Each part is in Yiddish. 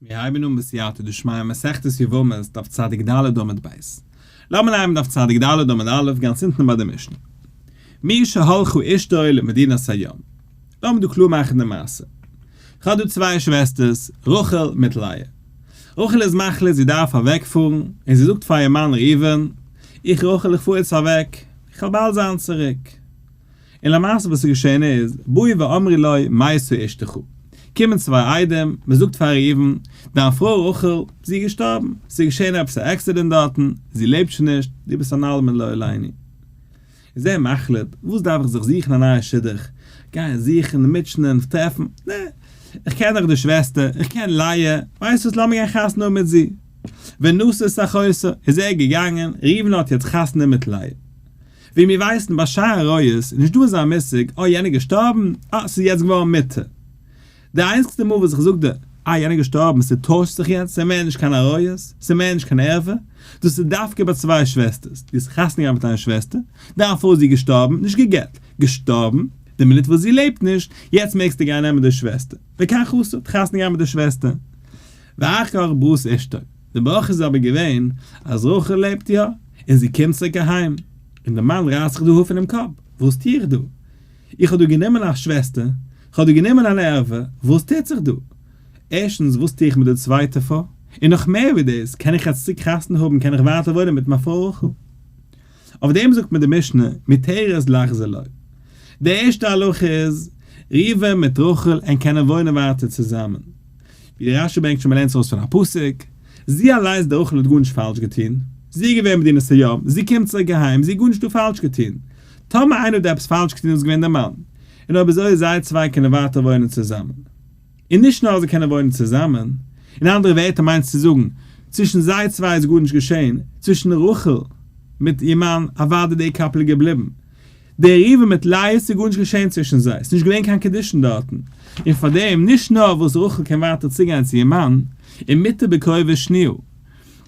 מיר הייבן אן בסייעתא דשמיא מסכת יבמות דף צדיק ד עמוד ב'. לאמיר לייענען דף צדיק ד עמוד א' גאנץ אונטן ביי די משנה. מי שהלכו אישתו למדינת הים. לאמיר דא קלאר מאכן די מעשה. כ'האב דא צוויי שוועסטערס, רחל מיט לאה. רחל איז מחליט זי דארף אוועק פארן, און זי זאגט פאר איר מאן ראובן, איך רחל איך פאר יעצט אוועק, איך האב באלד זיין צוריק. און למעשה וואס איז געשען איז, באו ואמרו לו מה עשו אשתך, קומען צוויי איידעם, מען זאגט פאר ראובן, דיין פרוי רחל, זי איז געשטארבן, עס איז געשען עפעס א עקסידענט דארטן, זי לעבט שוין נישט, דו ביסט אן אלמן לא עלינו. איז ער מחליט, וואס דארף איך זיך זוכן א נייע שידוך, גיין זוכן, מוטשענען, טרעפן, נע, איך קען דאך די שוועסטער, איך קען לאה, ווייסט וואס לאמיר גיין חתונה האבן מיט זי. ונשא שחותו, איז ער געגאנגען, ראובן האט יעצט חתונה מיט לאה. ווי מיר ווייסן ביי שער עריות איז נישט דא אזא מושג אה יענער געשטארבן, אה ס'איז יעצט געווארן מיתה. די איינציגסטע מאל וואס איך זאג די אה יענער געשטארבן ס'טוישט זיך יעצט ס'איז מער נישט קיין עריות ס'איז מער נישט קיין ערווה דאס איז דווקא ביי צוויי שוועסטערס דו האסט חתונה געהאט מיט איין שוועסטער דערפאר איז זי געשטארבן נישט גע'גט, געשטארבן, די מינוט וואס זי לעבט נישט יעצט מעגסטו גיין נעמען די שוועסטער וכך עשו האט חתונה געהאט מיט די שוועסטער ואחר כך בראות אשתו די ברכה איז אבער געווען אז רחל לעבט יא. און זי קומט צוריק אהיים, און די מאן רייסט זיך די האר פונעם קאפ, וואס טו איך דא? איך האב דא גענומען א שוועסטער, איך האב דא גענומען אן ערוה, וואס טוט זיך דא? ערשטנס, וואס טו איך מיט די צווייטע פרוי? און נאך מער ווי דאס, קען איך יעצט צוריק חתונה האבן, קען איך ווייטער וואוינען מיט מיין פרוי רחל? אויף דעם זאגט מיר די משנה, מותרת לך זה לא. די ערשטע הלכה איז, ראובן מיט רחל ענק קענען וואוינען ווייטער צוזאמען. ווי דער רשי ברענגט שוין מען לערנט עס אויס פון א פסוק, זי אליינס די רחל האט גארנישט פאלש געטון, זי איז געווען מדינת הים, זי קומט צוריק אהיים, זי האט גארנישט דא פאלש געטון, טאמער איינער האט דא עפעס פאלש געטון איז עס געווען דער מאן, און אויב אזוי איז זיי צוויי קענען ווייטער וואוינען צוזאמען, און נישט נאר אז זיי קענען וואוינען צוזאמען, אין אנדערע ווערטער מיינסטו צו זאגן, צווישן זיי צוויי איז גארנישט געשען, צווישן רחל מיט איר מאן אוודאי די קאפל איז געבליבן, די ריווע מיט לאה ס'איז גארנישט געשען צווישן זיי, ס'איז נישט געווען קיין קידושין דארטן, און פארדעם נישט נאר וואס רחל קען ווייטער צוגיין צו איר מאן, און מיתה בקרובי שניאל.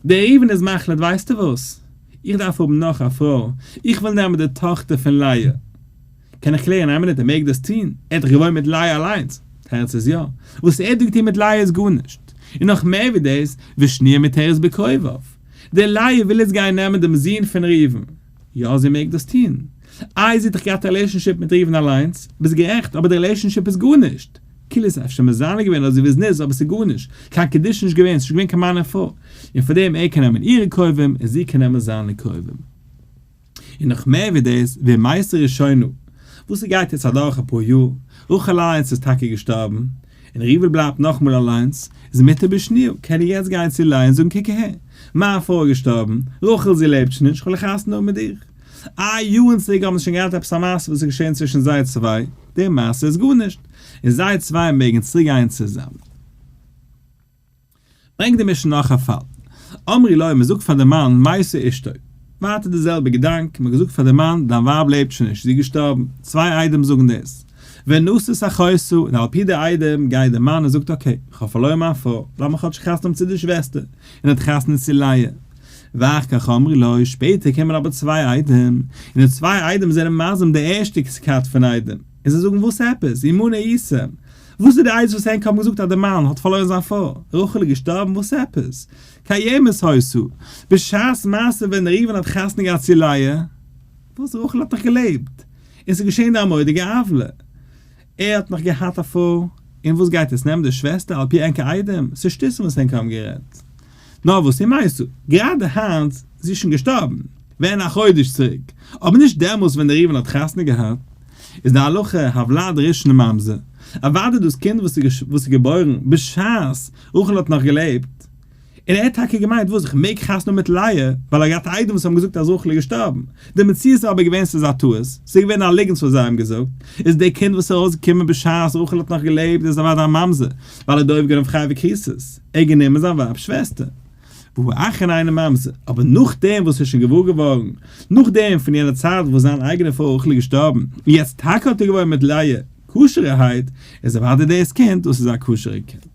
דער ריווען איז מחליט ווייסטו וואס? איך דארף האבן נאך א פרוי, איך וויל נעמען די טאכטער פון לאה. קען איך קלערן איין מינוט ער מעג דאס טון? ער האט דאך געוואוינט מיט לאה אליינס. תירוץ איז יא, וואס ער האט דא געטון מיט לאה איז גארנישט, און נאך מער ווי דאס, ושניא מיתר איז בקרוביו. די לאה וויל איצט גיין נעמען דעם זון פון ריווען. יא זי מעג דאס טון. איי זי האט דאך געהאט א רילעישאנשיפ מיט ראובן אליינס? ביסט גערעכט, אבער די רילעישאנשיפ איז גארנישט. כאילו איז אפשר מזנה געווען אדער זי וויזניץ אבער ס'איז גארנישט. קיין קידושין נישט געווען, ס'נישט געווען קיין מאן און פרוי. און פאר דעם ער קען נעמען אירע קרובים און זי קען נעמען זיינע קרובים. און נאך מער ווי דאס, ווער מייסטער ראשונו? וואס ס'גייט יעצט אדורך אפאר יאר, רחל אליינס איז טאקע געשטארבן, און ריוועל בלייבט נאכאמאל אליינס, איז מיתה בשניהו, קען ער יעצט גיין צו לאה און זאגן קוק אהער, מיין פרוי איז געשטארבן, רחל זי לעבט שוין נישט, כ'וויל א חתונה האבן מיט דיר. איי יארן צוריק האבן זיי שוין געהאט עפעס א מעשה וואס איז געשען צווישן זיי צוויי, די מעשה איז גארנישט, און זיי צוויי מעגן צוריק גיין צוזאמען. ברענגט די משנה נאך א פאל, אמרי לוי, מ'זאגט פאר די מאן מייסר אשתו, ווייטער די זעלבע געדאנק, מ'האט געזאגט פאר די מאן דיין ווייב לעבט שוין נישט, זי איז געשטארבן, צוויי עדים זאגן דאס, ונשאת אחותו, און על פי די עדים גייט די מאן און זאגט אקעי, כ'האב פארלוירן מיין פרוי, לאמער כאטש חתונה האבן צו די שוועסטער, און האט חתונה צו לאה. ואחר כך אמרי לוי, שפעטער קומען אבער צוויי עדים, און די צוויי עדים זענען מייסר די ערשטע כת פון עדים, און זיי זאגן וואס עפעס, ימנע עיסה, וואס איז די עצה וואס ענק האבן געזאגט אז די מאן האט פארלוירן זיין פרוי? רחל איז געשטארבן? וואס עפעס? קיימת הויסו? בשעת מעשה ווען ראובן האט חתונה געהאט צו לאה? וואס רחל האט נאך געלעבט און ס'איז געשען די ארמאדיגע עוולה? ער האט נאך געהאט א פרוי און וואס גייט עס נעמען די שוועסטער על פי ענקער איידעם? ס'איז שטותים וואס ענק האבן גערעדט. נאר וואס איר מיינסטו? גראדע היינט, זי איז שוין געשטארבן, ווען א חודש צוריק, אבער נישט דעמאלס ווען דער ראובן האט חתונה געהאט, איז די הלכה הוולד ראשון לממזר, אוודאי דאס קינד וואס איז געבוירן בשעת רחל האט נאך געלעבט, און ער האט טאקע געמיינט וואס, איך מעג חתונה האבן מיט לאה, ווייל ער האט געהאט איידעם וואס האבן געזאגט אז רחל איז געשטארבן, די מציאות איז אבער געווען ס'איז א טעות, ס'איז געווען א ליגנט וואס זיי האבן געזאגט, איז די קינד וואס איז ארויסגעקומען בשעת רחל האט נאך געלעבט איז אוודאי א ממזר, ווייל ער האט דאויב גענומען פאר חייבי כסות, ער האט גענומען זיין ווייב'ס שוועסטער, והוא אכן אינו ממזר, אבער נאכדעם וואס ער איז שוין געוואר געווארן, נאכדעם פון יענע צייט וואס זיין אייגענע פרוי רחל איז געשטארבן, און יעצט טאקע האט ער געוואויר מיט לאה, כשר'ערהייט, איז אוודאי דאס קינד, דאס איז א כשר'ע קינד.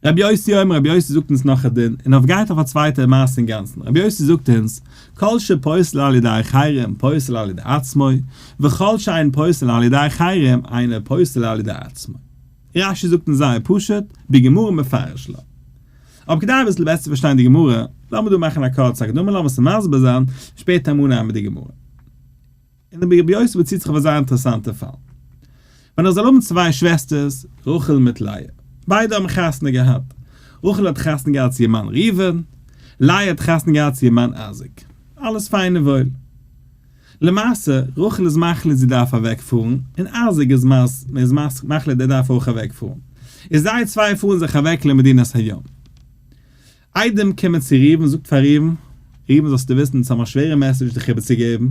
רבי יוסי אומר, רבי יוסי זאגט אונז נאך א דין, און אויף גייט אויף א צווייטע מעשה אינגאנצן, רבי יוסי זאגט אונז, כל שפוסל על ידי אחרים פוסל על ידי עצמו, וכל שאין פוסל על ידי אחרים אינו פוסל על ידי עצמו. רש י זאגט אונז זייער פשוט, בגמרא מפרש לה. אבער כדי אביסל בעסער צו פארשטיין די גמרא, לאמיר דא מאכן א קורצע הקדמה, לאמיר עס מסביר זיין, שפעטער מנין מיר די גמרא. און די בעה ביות'טע באציט זיך אויף א זייער אינטערעסאנטע פאל. ווען איך זאל האבן צוויי שוועסטערס, רחל מיט לאה. ביידע האבן חתונה געהאט. רחל האט חתונה געהאט צו איר מאן ראובן. לאה האט חתונה געהאט צו איר מאן אייזיק. אלעס פיין און וואויל. למעשה, רחל איז מחליט זי דארף אוועקפארן, און אייזיק איז מחליט ער דארף אויך אוועקפארן. און זיי צוויי פארן זיך אוועק למדינת הים. איידעם קומען צו ראובן זאגט פאר ראובן, ראובן זאלסטו וויסן אונז האבן א שווערע מעסעדזש דיך איבערצוגעבן,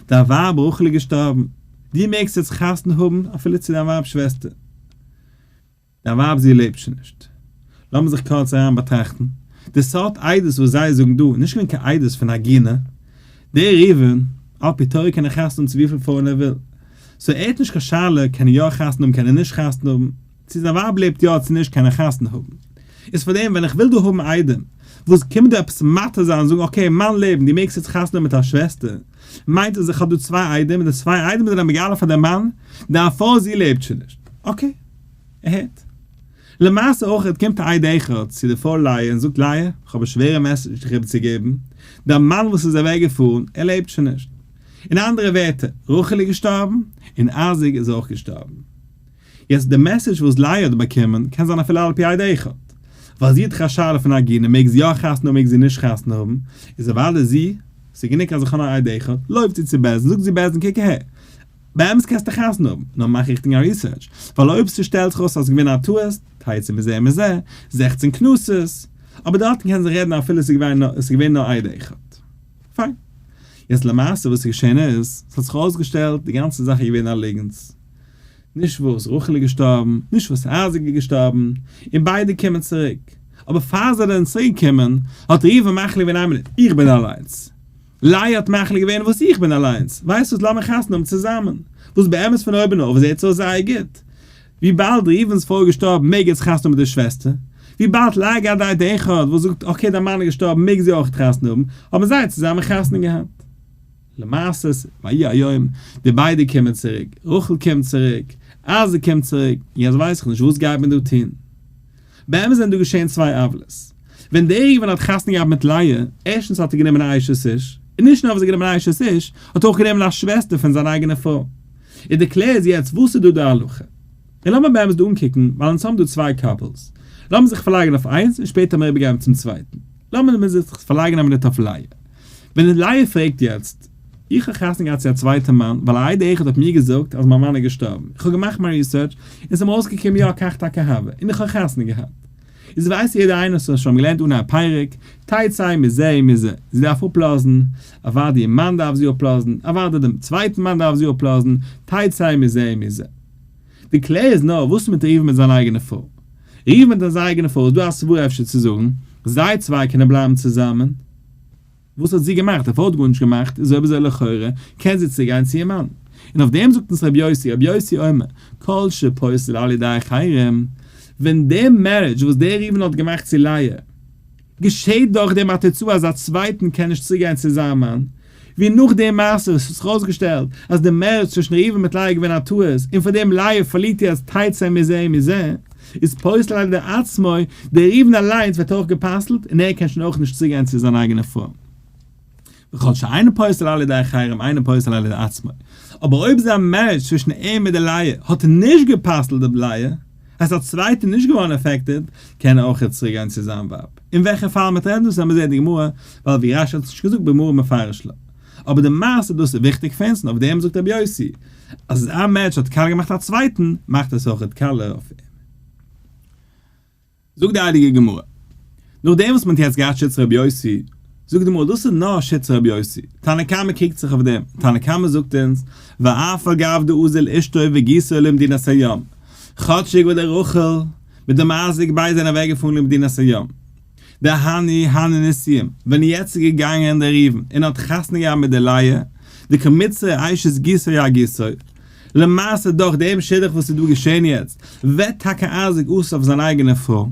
דיין ווייב רחל איז געשטארבן, דו מעגסט יעצט חתונה האבן אפילו צו דיין ווייב'ס שוועסטער, דיין ווייב זי לעבט שוין נישט. לאמיר זיך קורץ אריין באטראכטן, די סארט עדות וואס זיי זאגן דא איז נישט געווען קיין עדות פון עגינה, דער ראובן על פי תורה קען ער חתונה האבן צו וויפיל פרויען ער וויל, סאו ער האט נישט קיין שאלה קען ער יא חתונה האבן קען ער נישט חתונה האבן, צו זיין ווייב לעבט יא צו נישט קען ער חתונה האבן, איז פאר דעם ווען איך וויל דא האבן איידעם וואס קומט דא עפעס מתיר זיין זאגן אקעי מיין לעבן דו מעגסט יעצט חתונה מיט א שוועסטער מיינט אז איך האב דא צוויי איידעם און די צוויי איידעם זענען מגלה פאר די מאן דיין פרוי זי לעבט שוין נישט אקעי ער הערט. למעשה אויכעט קומט א איידעם איכער צו די פרוי לאה און זאגט לאה איך האב א שווערע מעסעדזש דיך איבערצוגעבן דיין מאן וואס איז אוועק געפארן ער לעבט שוין נישט אין אנדערע ווערטער רחל איז געשטארבן און אייזיק איז אויך געשטארבן. יעצט די מעסעדזש וואס לייער האט באקומען קען זיין אפילו על פי עד אחד, ווייל זי האט דאך א שאלה פון א עגונה מעג זי יא חתונה האבן מעג זי נישט חתונה האבן, איז אוודאי זי, ס'איז גענוג אז איך האב א עד אחד, לויפט זי צו בעסד און זאגט זי בעסד קוק אהער, באמת קענסטו חתונה האבן, נאר מאך ריכטיג א ריסערטש, ווייל אויב ס'שטעלט זיך אויס אז ס'איז געווען א טעות, טעיתי מזה מזה, זעכצן קנסות, אבער דארטן קען זיך רעדן אפילו ס'איז געווען נאר א עד אחד. פיין. יעצט למעשה וואס איז געשען איז, ס'האט זיך אויסגעשטעלט די גאנצע זאך איז געווען א ליגנטס. נישט וואס רחל איז געשטארבן, נישט וואס אייזיק איז געשטארבן, און ביידע קומען צוריק. אבער פאר זיי זענען צוריק געקומען, האט ראובן מחליט געווען איין מינוט, איך בין אליינס. לאה האט מחליט געווען וואס איך בין אליינס, ווייסט וואס לאמיר חתונה האבן צוזאמען. וואס באמת פון אויבן אויף זעהט עס אויס זייער גוט. וויבאלד ראובן'ס פרוי איז געשטארבן מעג ער זיך חתונה האבן מיט די שוועסטער. וויבאלד לאה געהאט די איידיע אחד וואס זאגט אקעי דיין מאן איז געשטארבן מעג זי אויך חתונה האבן, האבן זיי צוזאמען חתונה געהאט. למעשה, ויהי היום, די ביידע קומען צוריק, רחל קומט צוריק, אייזיק קומט צוריק, און יעצט ווייס איך נישט וואס גייט מען דא טון. באמת זענען דא געשען צוויי עוולות. ווען דער ראובן האט חתונה געהאט מיט לאה, ערשטנס האט ער גענומען א אשת איש, און נישט נאר וואס ער האט גענומען א אשת איש, ער האט אויך גענומען א שוועסטער פון זיין אייגענע פרוי. איז די קלער איז יעצט וואס איז דא די הלכה. און לאמיר באמת דא אנקוקן, ווייל אונז האבן דא צוויי קאפלס. לאמיר זיך פארלייגן אויף איינס, און שפעטער האמיר איבערגעגעבן צום צווייטן. לאמיר מיר זיך פארלייגן א מינוט אויף לאה. ווען אליהו פרעגט יעצט, איך האב חתונה געהאט צו א צווייטע מאן ווייל א עדה אחת האט מיר געזאגט אז מיין מאן איז געשטארבן, איך האב געמאכט מיין ריסערטש און ס'האט מיר אויסגעקומען יא כך תקע ה און איך האב חתונה געהאט. איז ווייסט יעדער איינער וואס האט שוין געלערנט אן א פרק, טייט זיי מזה און מזה, זי דארף אפלאזן, אוודאי איר מאן דארף זי אפלאזן, אוודאי דעם צווייטן מאן דארף זי אפלאזן, טייט זיי מזה און מזה. די קלער איז נאר וואס מיט ראובן מיט זיין אייגענע פרוי? ראובן מיט זיין אייגענע פרוי איז דא א סברא אפשר צו זאגן זיי צוויי קענען בלייבן צוזאמען? וואס האט זי געמאכט? אויף האט גארנישט געמאכט, איז אויב אזוי לכאורה קען זי צוגיין צו איר מאן. און אויף דעם זאגט אונז רבי יוסי, רבי יוסי אומר, כל שפוסל על ידי אחרים, ווען די מערידזש וואס דער ראובן האט געמאכט צו לאה, געשעט דורך דעם א תוצאה אז א צווייטן קען נישט צוגיין צו זיין מאן, ווי נאך די מעשה האט זיך אויסגעשטעלט אז די מערידזש צווישן ראובן מיט לאה איז געווען א טעות, און פאר דעם לאה פארלירט איר אז תצא מזה מזה, איז פסול על דער עצמו, דער ראובן אליינס ווערט אויך גע'פסל'ט, און ער קען שוין אויך נישט צוגיין צו זיין אייגענע פרוי. וכל שאינו פסול על ידי אחרים אינו פסול על ידי עצמו. אבער אויב זיין מערידזש צווישן אים מיט די לייע האט נישט גע'פסל'ט די לייע, אז א צווייטע איז נישט געווארן עפעקטעד, קען ער אויך יעצט צוריקגיין צו זיין ווייב. אין וועלכע פאל מ'טרעפט דאס ווען מ'זעט די גמרא, ווייל ווי רש י האט נישט געזאגט בגמרא מפרש ל. אבער די מעשה דאס איז וויכטיג פון אונז, און אויף דעם זאגט רבי יוסי, אז אז א מענטש האט קאלע געמאכט א צווייטן, מאכט עס אויכעט קאלע אויף אים. זאגט די הייליגע גמרא, נאך דעם וואס מען האט יעצט געהאט שיטת רבי יוסי, זאגט די גמרא, דאס איז נאר שיטת רבי יוסי, תנא קמא קריגט זיך אויף דעם, תנא קמא זאגט אונז, ואף על גב די אוזל אשתו וגיסו למדינת הים, כאטשיג וואס די רחל מיט די מזיק בית זענען אוועקגעפארן למדינת הים, די הני הני נסים, ווען יעצט איז געגאנגען דער ראובן און האט חתונה געהאט מיט די לאה, די קרמיצער אשת גיסו יא גיסו, למעשה דורך דעם שידוך וואס איז דא געשען יעצט, ווערט טאקע אייזיק אסור אויף זיין אייגענע פרוי,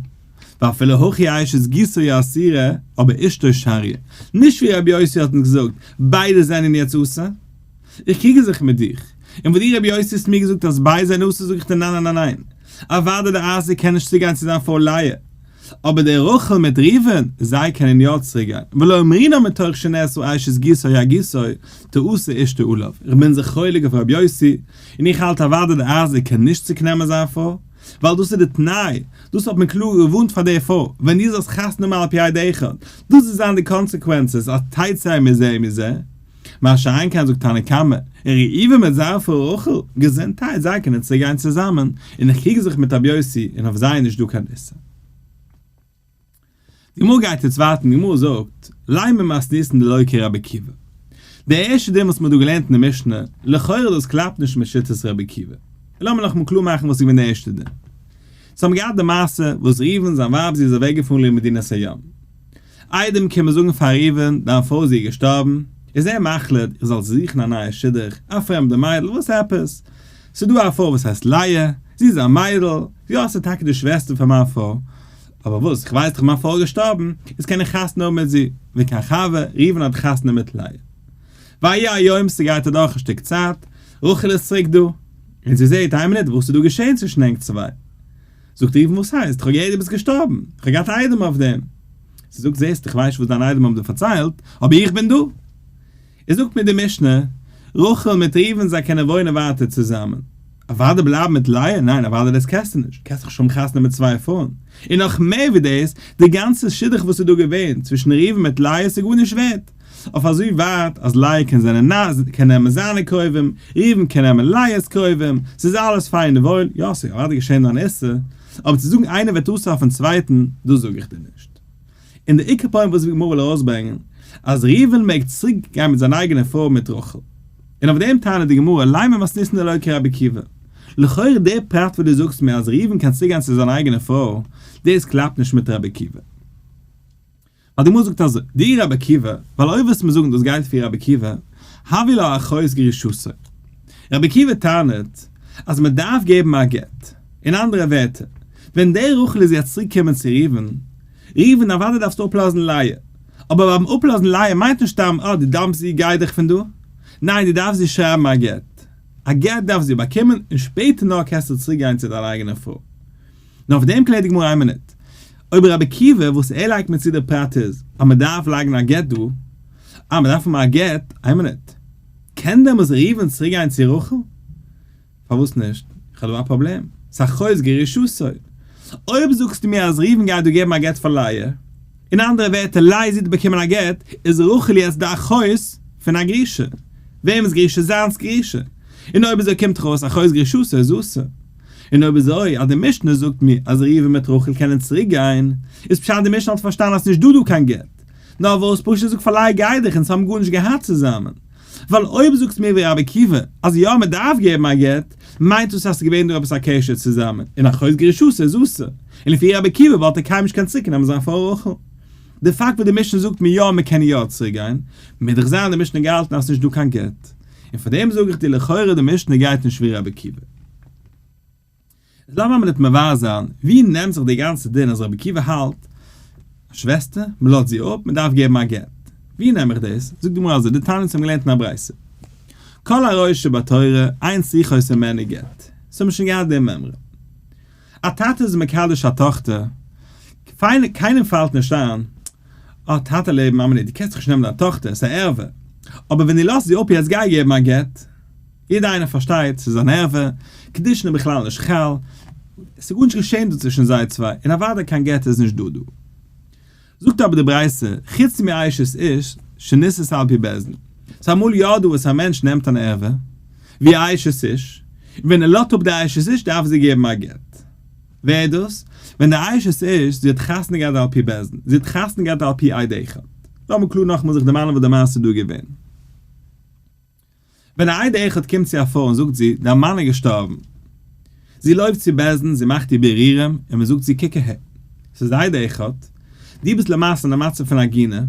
ואפילו הכי אשת גיסו יא אסירה, אבער אשתו שריה, נישט ווי רבי יוסי האט אונז געזאגט, ביידע זענען יעצט אסור? איך קריגל זיך מיט דיך, און וואס דו רבי יוסי האסט מיר געזאגט אז ביידע זענען אסור זאג איך דיר ניין ניין ניין ניין, אוודאי דער אייזיק קען נישט צוגיין צו זיין פרוי לאה, אבער דער רחל מיט ראובן, זיי קענען יא צוריק גיין, ולא אמרינן מתוך שנעשו אשת גיסו היה גיסו, תעשה אשתו עליו, איך בין זיך חולק אויף רבי יוסי, און איך האלט אוודאי די אייזיק קען נישט צוריק נעמען זיין פרוי, ווייל דאס איז די תנאי, דאס האט מען קלאר געווארנט פאר די פרוי, ווען דו זאלסט חתונה מאלפי' עד אחד, דאס וועט זיין די קאנסעקווענסעס, אז תצא מזה מזה, מה שאין כן זאגט תנא קמא, ראובן מיט זיין פרוי רחל, געזונטהייט, זיי קענען צוגיין צוזאמען, און איך קריג זיך מיט רבי יוסי, און אויף זיי איז נישט דא קיין איסור. די גמרא גייט יעצט ווייטער, די גמרא זאגט, לי' ממס' ניסן דלא כרבי עקיבא. די ערשטע דין וואס מען האט דא געלערנט אין די משנה, לכאורה דאס קלאפט נישט מיט שיטת רבי עקיבא. לאמיר נאכאמאל קלאר מאכן וואס איז געווען די ערשטע דין. זיי האבן געהאט די מעשה וואס ראובן זיין ווייב זי איז אוועקגעפארן למדינת הים. איידעם קען מען זאגן פאר ראובן, דיין פרוי זי איז געשטארבן, איז ער מחליט איך זאל זוכן א נייע שידוך, א פרעמדע מיידל, וואס עפעס? ס'איז דא א פרוי וואס הייסט לאה, זי איז א מיידל, יא ס'איז טאקע די שוועסטער פון מיין פרוי, אבער וואס, איך ווייס דאך מיין פרוי איז געשטארבן, איז קען איך חתונה האבן מיט זי, ווי קיין חבר, ראובן האט חתונה מיט לאה. ויהי היום ס'גייט אדורך א שטיק צייט, רחל איז צוריק דא, און זי זעט, איין מינוט, וואס איז דא געשען צווישן ענק צוויי? זאגט ער איבן וואס הייסט? כ'האב געהערט דו ביסט געשטארבן, כ'האב געהאט א איידעם אויף דעם. זי זאגט זעסטו כ'ווייס שוין וואס דיינע איידעם האבן דיר פארציילט, אבער איך בין דא! איז זאגט מיר די משנה, רחל מיט ראובן זיי קענען וואוינען ווייטער צוזאמען, אוואדי בלייבן מיט לאה? ניין אוואדי דאס קענסטו נישט, קענסט דאך נישט האבן חתונה מיט צוויי פרויען, און נאך מער ווי דאס, די גאנצע שידוך וואס איז דא געווען צווישן ראובן מיט לאה איז גארנישט ווערד. אויף אזוי ווייט אז לאה קען זיין נ ז קען נעמען זיינע קרובים, ראובן קען נעמען ליה'ס קרובים, ס'איז אלעס פיין און וואויל, יא ס'קען אוודאי געשען אן איסור, אבער צו זאגן איינער וועט אויסרייפן צווייטן, דאס זאג איך דיר נישט. און דער עיקר פוינט וואס די גמרא וויל ארויסברענגען, אז ראובן מעג צוריק גיין מיט זיין אייגענע פרוי מיט רחל. און אויף דעם טענה'ט די גמרא, לי' ממס ניסן אלוה כרבי עקיבא. לכאורה דער פרט וואס דו זאגסט מיר אז ראובן קען צוריק גיין צו זיין אייגענע פרוי, דאס קלאפט נישט מיט רבי עקיבא. ווייל די גמרא זאגט אזוי, די רבי עקיבא, ווייל אויב וועסט מיר זאגן דאס גייט פי רבי עקיבא, הווי לא אחויז גרישתו. רבי עקיבא טענה'ט אז מען דארף געבן א גט. אין אנדערע ווערטער, ווען דער רחל איז יעצט צוריק קומען צו ראובן, ראובן אוודאי דארפסטו אפלאזן לאה, אבער ביים אפלאזן לאה מיינט נישט סתם אה די דאמפסט זי גיי דיך פון דא, ניין די דארפסט איר שרייבן א גט, א גט דארף זי באקומען און שפעטער נאר קענסטו צוריק גיין צו דיין אייגענע פרוי. נאר אויף דעם קלערט די גמרא איין מינוט. אויב ר' עקיבא וואס ער לייגט מיר צו די פרט איז אז מען דארף לייגן א גט דא, אה מען דארף האבן א גט, איין מינוט, קען דעמאלס ראובן צוריק גיין צו רחל? פארוואס נישט? איך האב דא א פראבלעם, סא חוזקי רשעותו. אויב זאגסטו מיר אז ראובן גייט דא געבן א גט פאר לאה, אין אנדערע ווערטער לאה זי האט באקומען א גט, איז רחל יעצט די אחוז פון א גרושה. וועמענס גרושה? זיינס גרושה. און אויב איז ער קומט דאך אויס א חוזקי רשעותו איז אסור. און אויב איז אזוי אז די משנה זאגט מיר אז ראובן מיט רחל קענען צוריק גיין, איז פשט די משנה האט פארשטאנען אז נישט דא דא קיין גט, נאר וואס פשט זאג פארליי גיי דיך אונז האבן גארנישט געהאט צוזאמען, ווייל אויב זאגסט מיר ווי רבי עקיבא אז יא מען דארף געבן א גט, מיינט דאס אז עס איז געווען דא עפעס א קשר צוזאמען און א חוזה גרישות איז אסור, און לפי רבי עקיבא וואלט ער קיינמאל נישט קענען צוריק נעמען זיין פרוי רחל. די פאקט וואס די משנה זאגט מיר יא מען קען יא צוריק גיין, מיז דאך זיין אז די משנה האט געהאלטן אז עס איז נישט דא קיין גט. און פאר דעם זאג איך דיר לכאורה די משנה גייט נישט ווי רבי עקיבא. איז לאמיר אמער ניט מבאר זיין, ווי נעמט זיך דער גאנצער דין אז רבי עקיבא האלט, א שוועסטער, מען לאזט זי אפ, מען דארף געבן א גט. ווי נעם איך דאס? זאגט די גמרא אזוי, די תניא ז האבן געלערנט אין א ברייתא, כל הראוי שבתורה אין שיחות אין מענה גט. עס האבן שוין געהאט די מימרא. א טאטע איז מקדש א טאכטער, פיין, קיינעם פאלט נישט איין, אה, טאטע לעבן, מאמע'לע, דו קענסט דאך נישט נעמען דיין טאכטער, ס'איז א ערווה. אבער ווען דו לאזט זי אפ יעצט גיי געבן א גט. יעדער איינער פארשטייט, ס'איז אן ערווה, קידושין איז בכלל נישט חל, ס'איז גארנישט געשען דא צווישן זיי צוויי, און אוודאי קיין גט איז נישט דא דא. זאגט אבער די ברייתא, חוץ מאשת איש שנישאת על פי בית דין. ס'איז אמאל יא דא וואס א מענטש נעמט אן ערווה, ווי א אשת איש, און ווען ער לאזט אפ די אשת איש דארף זי געבן א גט. ווער איז דאס? ווען די אשת איש, זי האט חתונה געהאט על פי בית דין, זי האט חתונה געהאט על פי עד אחד. לאמיר קלאר נאכאמאל זיך דערמאנען וואס די מעשה איז דא געווען. ווען א עד אחד קומט צו א פרוי און זאגט זי, דיין מאן איז געשטארבן. זי לויפט צו בית דין, זי מאכט איר בירורים, און מען זאגט זי קוק אהער. ס'איז א עד אחד. דו ביסט למעשה אין א מצב פון עגינה.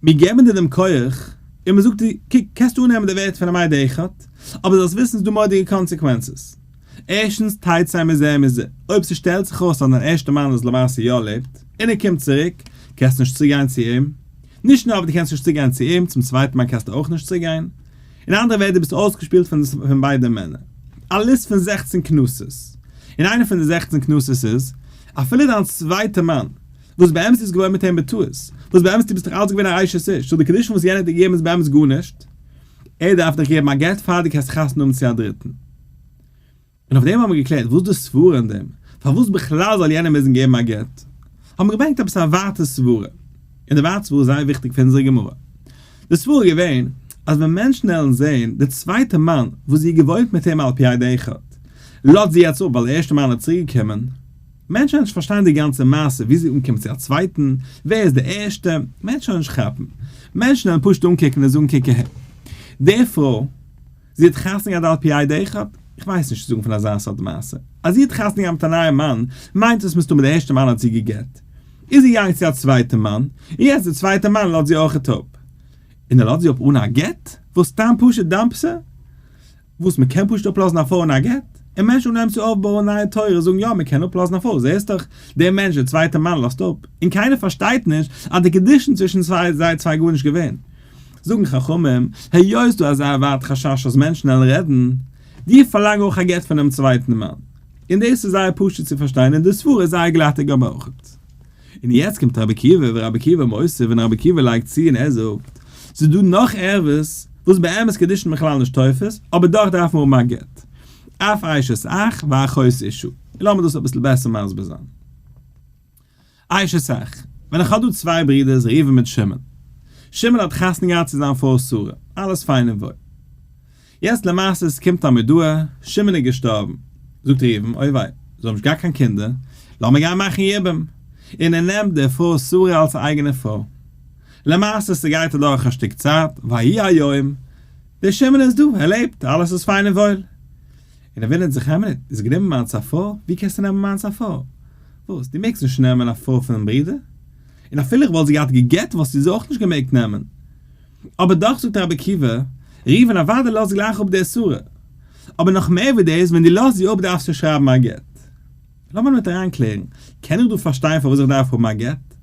מיר געבן דיר דעם כח, און מען זאגט דיר, קוק, קענסט אננעמען די ווערטער פון א מדה אחת, אבער זאלסט וויסן ס'איז דא מורא'דיגע קאנסעקווענצעס. ערשטנס, תיתי מזה מזה, אויב ס'שטעלט זיך אויס אז דיין ערשטער מאן איז למעשה יא לעבט, און ער קומט צוריק, קענסטו נישט צוגיין צו אים. נישט נאר וואס דו קענסט נישט צוגיין צו אים, צום צווייטן מאן קענסטו אויך נישט צוגיין. אין אנדערע ווערטער, דו ביסט אויסגעשפילט פון ביידע מענער. א ליסט פון זעכצן קנסות, און איינע פון די זעכצן קנסות איז, אפילו דיין צווייטער מאן, וואס באמת איז געווארן מיט אים בטעות? וואס באמת דו ביסט דאך אלץ געווען א אשת איש, סאו די קידושין וואס יענער האט דיר געגעבן איז באמת גארנישט, ער דארף דיך געבן א גט פאר דו קענסט חתונה האבן צו א דריטן. און אויף דעם האבן מיר געקלערט וואס די סברה אין דעם, פארוואס בכלל זאל יענער מוזן געבן א גט, האבן מיר געברענגט עפעס א ווייטע סברה, און די ווייטע סברה איז זייער וויכטיג פאר אונזערע גמרא. די סברה איז געווען, אז ווען מענטשן העלן זען די צווייטע מאן וואס זי האט געוואוינט מיט אים על פי א ד אחד, לאזט זי יעצט אפ ווייל די ערשטע מאן איז צוריקגעקומען, מענטשן וועלן נישט פארשטיין די גאנצע מעשה ווי זי אנקומט צו א צווייטן, ווער איז די ערשטע, מענטשן וועלן נישט כאפן, מענטשן וועלן פשוט אנקוקן און זאגן קוק אהער, די פרוי, זי האט חתונה געהאט על פי איי די אחד, איך ווייס נישט צו זאגן פון אזא סארט מעשה, אז זי האט חתונה געהאט מיט א נייעם מאן, מיינט עס מסתמא די ערשטע מאן האט זי גע'גט, איז זי געגאנגען צו א צווייטע מאן, און יעצט די צווייטע מאן לאזט זי אויכעט אפ, און ער לאזט זי אפ אן א גט, וואס סתם פשוט דאמפסער? וואס מען קען פשוט אפלאזן א פרוי אן א גט? און מענטשן וואס נעמען צו אויפבויען נייע תורות זאגן יא מען קען אפלאזן א פרוי, זעסט דאך דער מענטש דער צווייטער מאן לאזט אפ, און קיינער פארשטייט נישט אז די קידושין צווישן צוויי זיי צוויי גארנישט געווען. זאגן חכמים, היות איז דא אזא ווארט חשש אז מענטשן וועלן רעדן, דיר פארלאנג אויך א גט פונעם צווייטן מאן. און דאס איז זייער פשוט צו פארשטיין און די סברה איז זייער גלאטיג אבער אויך און יעצט קומט רבי עקיבא ורבי עקיבא מוסיף און רבי עקיבא לייגט צו און ער זאגט, ס'איז דא נאך ערבות וואס באמת קידושין בכלל נישט תופס, אבער דאך דארף מען האבן א גט, אף אשת אח ואחות אישה, און לאמיר דאס אביסל בעסער מסביר זיין. אשת אח, ווען איך האב דא צוויי ברודערס ראובן מיט שמעון, שמעון האט חתונה געהאט צו זיין פרוי שרה, אלעס פיין און וואויל, יעצט למעשה ס'קומט א מודעה, שמעון איז געשטארבן, זאגט ראובן, אוי וויי, זיי האבן נישט געהאט קיין קינדער, לאמיר גיין מאכן יבום, און ער נעמט די פרוי שרה אלס א אייגענע פרוי. למעשה ס'גייט אדורך א שטיק צייט, ויהי היום, דער שמעון איז דא, ער לעבט, אלעס איז פיין און וואויל. און ער וואונדערט זיך, העמער, דו האסט גענומען מיינס א פרוי, ווי קענסטו נעמען מיינס א פרוי? וואס, דו מעגסט נישט נעמען א פרוי פונעם ברודער? און אפילו איך וואלט זי געהאט גע'גט וואלסטו זי אויך נישט געמעגט נעמען. אבער דאך זאגט רבי עקיבא, ראובן אוודאי לאזט גלייך אפ די אסורה, אבער נאך מער ווי דאס, ווען דו לאזט זי אפ דארפסטו שרייבן א גט. לאמיר מיט אריין קלערן, קען איך דא פארשטיין פארוואס איך דארף האבן א גט?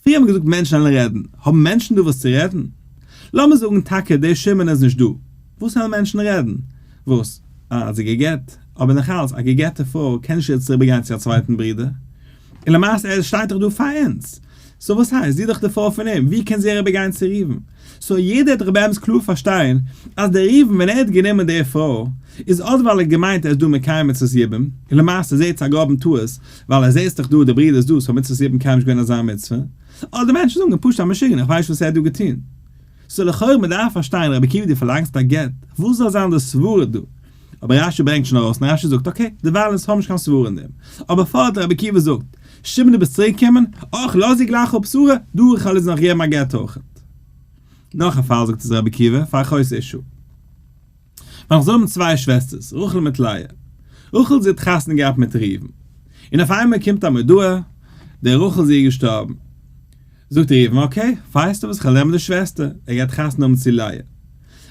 פריער האט מען געזאגט מענטשן וועלן רעדן, האבן מענטשן דא וואס צו רעדן? לאמיר זאגן טאקע דער שמעון איז נישט דא, וואס וועלן מענטשן רעדן? וואס? אה, האט זי גע'גט. אבער נאך אלץ, א גע'גט'ע פרוי קען נישט איבער צוריק גיין צו א צווייטן ברודער. און למעשה ער שטייט דאך דא פאר אונז. סאו וואס הייסט? זי איז דאך די פרוי פון אים, ווי קען זי אריבער גיין צו ראובן? סאו יעדער האט דאך באמת קלאר פארשטיין אז דער ראובן ווען ער האט גענומען די פרוי איז אט ווייל ער האט געמיינט ער איז דא מקיים מצות יבום, און למעשה זעהט זיך א גראבן טעות ווייל ער זעהט דאך דא די ברודער איז דא סאו מצות יבום קען נישט געווען אזא מצוה, אדער מענטשן זאגן פשוט א משוגענער איך ווייס נישט וואס ער האט דא געטון. סאו לכאורה מען דארף פארשטיין רבי עקיבא דו פארלאנגסט א גט, וואס זאל זיין די סברה דא? אבער רש י ברענגט שוין ארויס און רש י זאגט אקעי דערווייל אונז האבן נישט קיין סברה אין דעם, אבער פארט רבי עקיבא זאגט שמעון דו ביסט צוריק געקומען, אויך לאז דיר גלייך אפ שרה דא איך העל איז נאך געבן א גט אויכעט. נאך א פאל זאגט אז רבי עקיבא פאר'חוזק'ט אישו. ווען זיי האבן צוויי שוועסטערס רחל מיט לאה, רחל זי האט חתונה געהאט מיט ראובן, און אויף איינמאל קומט א מודעה די רחל זי איז געשטארבן, זאגט ראובן אקעי ווייסטו וואס כ'וועל נעמען די שוועסטער, ער גייט חתונה האבן צו לאה,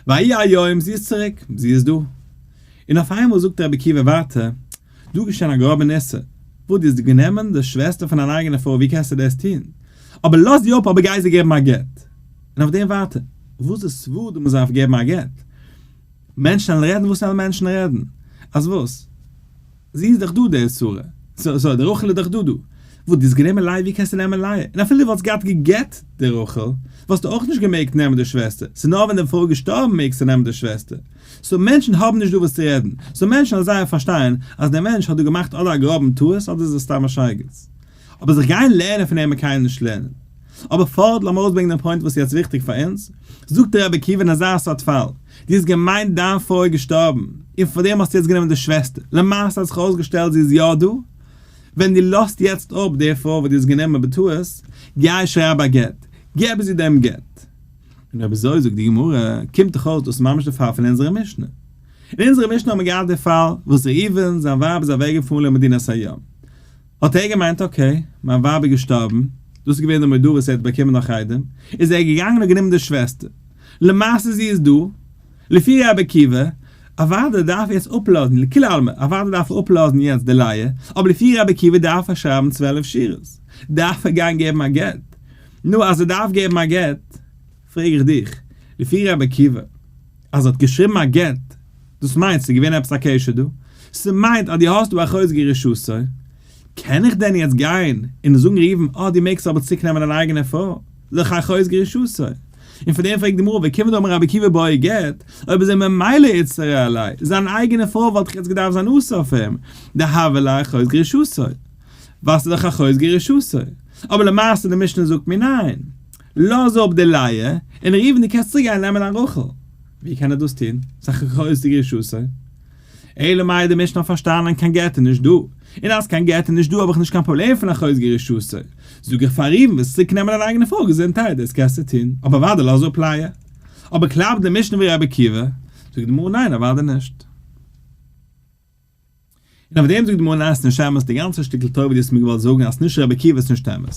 ויהי היום זי איז צוריק, זי איז דא, און אויף איינמאל זאגט רבי עקיבא ווארט דא איז געשען א גראבע ניסה, וואס דו האסט גענומען די שוועסטער פון דיין אייגענע פרוי ווי קענסטו דאס טון, אבער לאז זי אפ אבער גיי זיי געבן א גט, און אויף דעם ווייטער, וואס די סווא ד מ'זארף געבן א גט. מענטשן וועלן רעדן וואס וועלן מענטשן רעדן. אז וואס? זי איז דאך דא די צרה. סאו סאו די רחל איז דאך דא דא. וואס די האסט גענומען לייע ווי קענסטו נעמען לייע? און אפילו די וואלסט געהאט גע'גט'ט די רחל, וואלסטו אויך נישט געמעגט נעמען די שוועסטער. ס'נאר ווען די פרוי איז געשטארבן מעגסטו נעמען די שוועסטער. סאו מענטשן האבן נישט דא וואס צו רעדן. סאו מענטשן וועלן זייער פארשטיין אז דער מענטש האט דא געמאכט אדער א גראבן טעות אדער איז עס סתם א שייגעץ. אבער זיך גיין לערנען פון אים מען קיין נישט לערנען. אבער פארט לאמיר אויסברענגן דעם פוינט וואס איז יעצט וויכטיג פאר אונז, זאגט דער רבי עקיבא אין אזא סארט פאל, דו האסט געמיינט דיין פרוי איז געשטארבן, און פאר דעם האסטו יעצט גענומען די שוועסטער, למעשה האט זיך אויסגעשטעלט זי איז יא דא, ווען דו לאזט יעצט אפ די פרוי וואס דו האסט גענומען בטעות, גיי שרייב א גט, געב זי דעם גט. און אויב אזוי זאגט די גמרא, קומט דאך אויס דאס ממש די פאל פון אונזערע משנה. אין אונזערע משנה האט מען געהאט די פאל וואס ראובן זיין ווייב איז אוועקגעפארן למדינת הים, האט ער געמיינט אקעי, מיין ווייב איז געשטארבן, דאס איז געווען די מודעה וואס ער האט באקומען נאך איידעם איז ער געגאנגען און גענומען די שוועסטער, למעשה זי איז דא, לפי רבי עקיבא, אוודאי דארף ער יעצט אפלאזן, לכולי עלמא, אוודאי דארף ער אפלאזן יעצט די לייע, אבער לפי רבי עקיבא דארף ער שרייבן צוועלף שורות, דארף ער גיין געבן א גט, נו אז ער דארף געבן א גט, פרעג איך דיך, לפי רבי עקיבא, אז האט געשריבן א גט, דאס מיינט ס'איז געווען עפעס א קשר דא, ס'מיינט אז דו האסט דא א חוזקי רשעותו, קען איך דען יעצט גיין און זאגן ראובן אה דו מעגסט אבער צוריקנעמען דיין אייגענע פרוי, לכה ח חוזקי רשעותו, און פאר דעם פרעגט די גמרא וכיוון דאמר רבי עקיבא באי גט, אויב איז ער ממילא איסר עלי', זיין אייגענע פרוי וואלט דאך יעצט געדארפט זיין אסור אויף אים, דהוה ליה חוזקי רשעותו, ווייל ס'איז דאך א חוזקי רשעותו, אבער למעשה די משנה זאגט מיר ניין, לאז אפ די לייער, און ראובן דו קענסט צוריקגיין נעמען דיין רחל. ווי קען ער דאס טון? ס'איז א גרויסע רשעות. אלא מאי די משנה האט פארשטאנען קיין גט איז נישט דא, און אז קיין גט איז נישט דא האב איך נישט קיין פראבלעם פון א חוזק רשעות. זאג איך פאר ראובן וועסט צוריק נעמען דיין אייגענע פרוי געזונטהייט, דאס קענסטו טון, אבער אוודאי לאז אפ לייער. אבער קלאפט די משנה ווי רבי עקיבא? זאגט די גמרא ניין אוודאי נישט. און אויף דעם זאגט די מונעת נשמת די גאנצע שטיקל תורה וואס דו האסט מיר געוואלט זאגן אז נישט רבי עקיבא איז נישט אמת.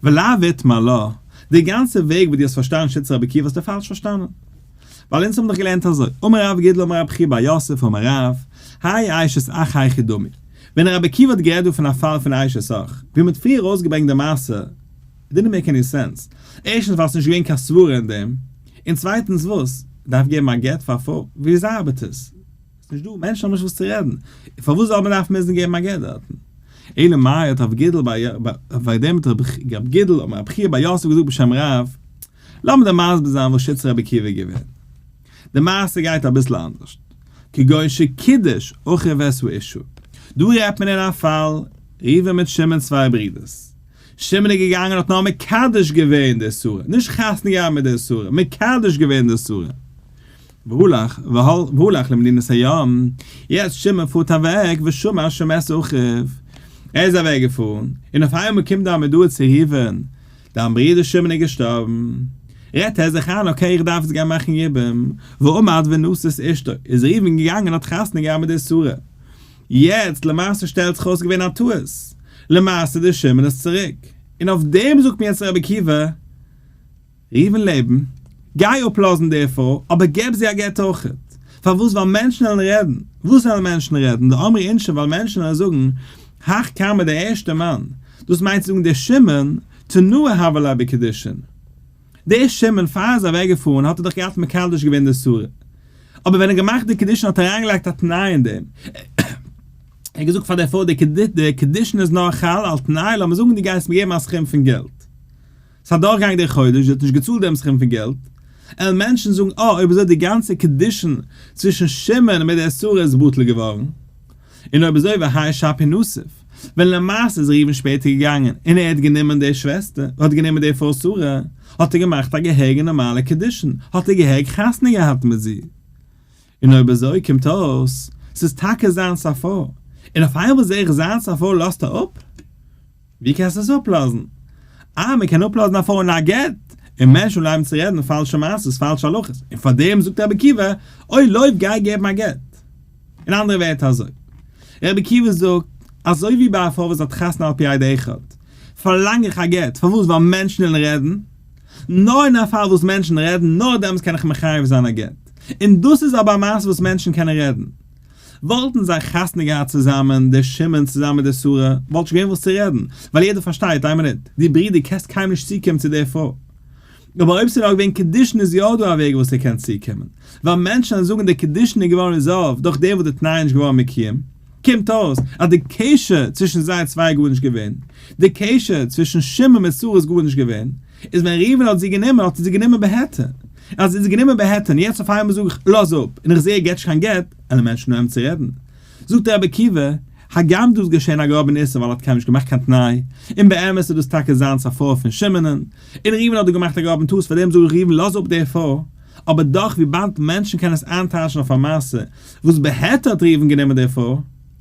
ולא ויתמר לא, די גאנצע וועג וואס דו האסט פארשטאנען שטיצע רבי עקיבא האסטו פאלש פארשטאנען. ווייל אונז האבן דאך געלערנט אזוי, אמר רב גידל אמר רב חייא ביי יוסף אמר רב, האי איישת אח היכי דמי. ווען רבי עקיבא האט גערעדט דא פון א פאל פון איישת אח, ווי מ'האט פריער אויסגעברענגט די מעשה, איט דידנט מעיק עני סענס. ערשטנס ווייל ס'איז נישט געווען קיין סברה אין דעם. און צווייטנס וואס? דארף געבן א גט פאר א פרוי? ווי ארבעט עס? ס'נישט דא מענטשן האבן נישט וואס צו רעדן, און פארוואס זאל מען דארפן מוזן געבן א גט דארטן? אלא מאי האט רב גידל ב י, וועגן דעם האט רב גידל האט מיר רבי חייא בר יוסף געזאגט בשם רב, לאמיר דיר מסביר זיין וואס שטות רבי עקיבא איז געווען. די מעשה גייט אביסל אנדערשט, כגון שקידש אחי וועש ואישו, דא רעדט מען אין א פאל ראובן מיט שמעון צוויי ברידערס, שמעון איז געגאנגען האט נאר מקדש געווען די שרה, נישט חתונה געהאט מיט די שרה, מקדש געווען די שרה, והא לך, והא לך למדינת הים, יעצט שמעון פארט אוועק ושמע שמעת אחיו, ער איז אוועק געפארן, און אויף איינמאל קומט דער מודעה צו ראובן, דיין ברודער שמעון איז געשטארבן, רעדט ער זיך איין אקעי איך דארף יעצט גיין מאכן יבום, ועמד ונשא את אשתו, איז ראובן געגאנגען האט חתונה געהאט מיט די שרה, יעצט למעשה שטעלט זיך אויס ס'געווען א טעות, למעשה דער שמעון איז צוריק, און אויף דעם זאגט מיר יעצט רבי עקיבא, ראובן לעבן, גיי אפלאזן די פרוי, אבער געב זי א גט אויכעט. פארוואס? ווייל מענטשן וועלן רעדן. וואס וועלן מענטשן רעדן? די אמרי אינשי, ווייל מענטשן וועלן זאגן, האך כרמי דער ערשטער מאן, דאס מיינט צו זאגן דער שמעון, תנועה הוה ליה בקידושין. דער שמעון, פאר ער איז אוועקגעפארן האט ער דאך געהאט מקדש געווען די שרה. אבער ווען ער האט געמאכט די קידושין האט ער אריינגעלייגט א תנאי אין דעם. ער האט געזאגט פאר די פרוי, די קידושין איז נאר חל על תנאי, לאמיר זאגן דו גייסט מיר געבן א סכום פון געלט. ס'איז אדורכגעגאנגען דער חודש, זי האט נישט געצאלט דעם סכום פון געלט, עלן מענטשן זאגן אה אויב אזוי די גאנצע קידושין צווישן שמעון מיט דער שרה איז בטל געווארן, און אויב אזוי והאי שפי נוסיף, ווען למעשה איז ראובן שפעטער געגאנגען און ער האט גענומען דער שוועסטער, ער האט גענומען דער פרוי שרה, האט ער געמאכט א געהעריגע נארמאלע קידושין, האט ער געהעריג חתונה געהאט מיט זי. און אויב אזוי קומט אויס ס'איז טאקע זיין סאפאר, און אויף איינמאל זע איך זיין סאפאר לאזט ער אפ? ווי קענסטו עס אפלאזן? אה, מען קען אפלאזן א פרוי אן א גט, און מענטשן בלייבן צו רעדן פאלשע מעשות, פאלשע הלכות, און פארדעם זאגט רבי עקיבא, אוי לויף גיי געבן א גט. אין אנדערע ווערטער אזוי, רבי עקיבא זאגט, אזוי ווי ביי א פרוי וואס האט חתונה על פי עדה אחד, פארלאנג איך א גט, פארוואס? ווייל מענטשן וועלן רעדן? נאר אין א פאל וואס מענטשן רעדן, נאר דעמאלטס קען איך מחייב זיין א גט. און דאס איז אבער א מעשה וואס מענטשן קענען רעדן. וואלטן זיי חתונה געהאט צוזאמען, דער שמעון צוזאמען מיט דער שרה, וואלט נישט געווען וואס צו רעדן, ווייל יעדער פארשטייט, איין מינוט, דו ברודער קענסט קיינמאל נישט צוקומען צו דער פרוי. אבער אויב ס'איז נאר געווען קידושין איז יא דא א וועג וואס ער קען צוקומען, ווייל מענטשן וועלן זאגן דער קידושין איז געווארן ריזאלווד דורך דעם וואס די תנאי איז נישט געווארן מקוים. קומט אויס אז די קשר צווישן זיי צוויי איז גארנישט געווען. די קשר צווישן שמעון מיט שרה איז גארנישט געווען. איז ווען ראובן האט זי גענומען האט ער זי גענומען בהיתר, ער האט זי גענומען בהיתר, און יעצט אויף איינמאל זאג איך לאז אפ, און איך זע ער געט נישט קיין גט, עלען מענטשן נאר אים צו רעדן. זאגט רבי עקיבא, הגם דא איז געשען א גראבע ניסן ווייל ער האט קיינעם נישט געמאכט קיין תנאי, און באמת איז דאס טאקע זיינס א פרוי פון שמעונ'ן, און ראובן האט דא געמאכט א גראבן טעות, פארדעם זאג איך ראובן לאז אפ די פרוי, אבער דאך וויבאלד מענטשן קענען עס איינטייטשן אויף א מעשה וואס בהיתר האט ראובן גענומען די פרוי,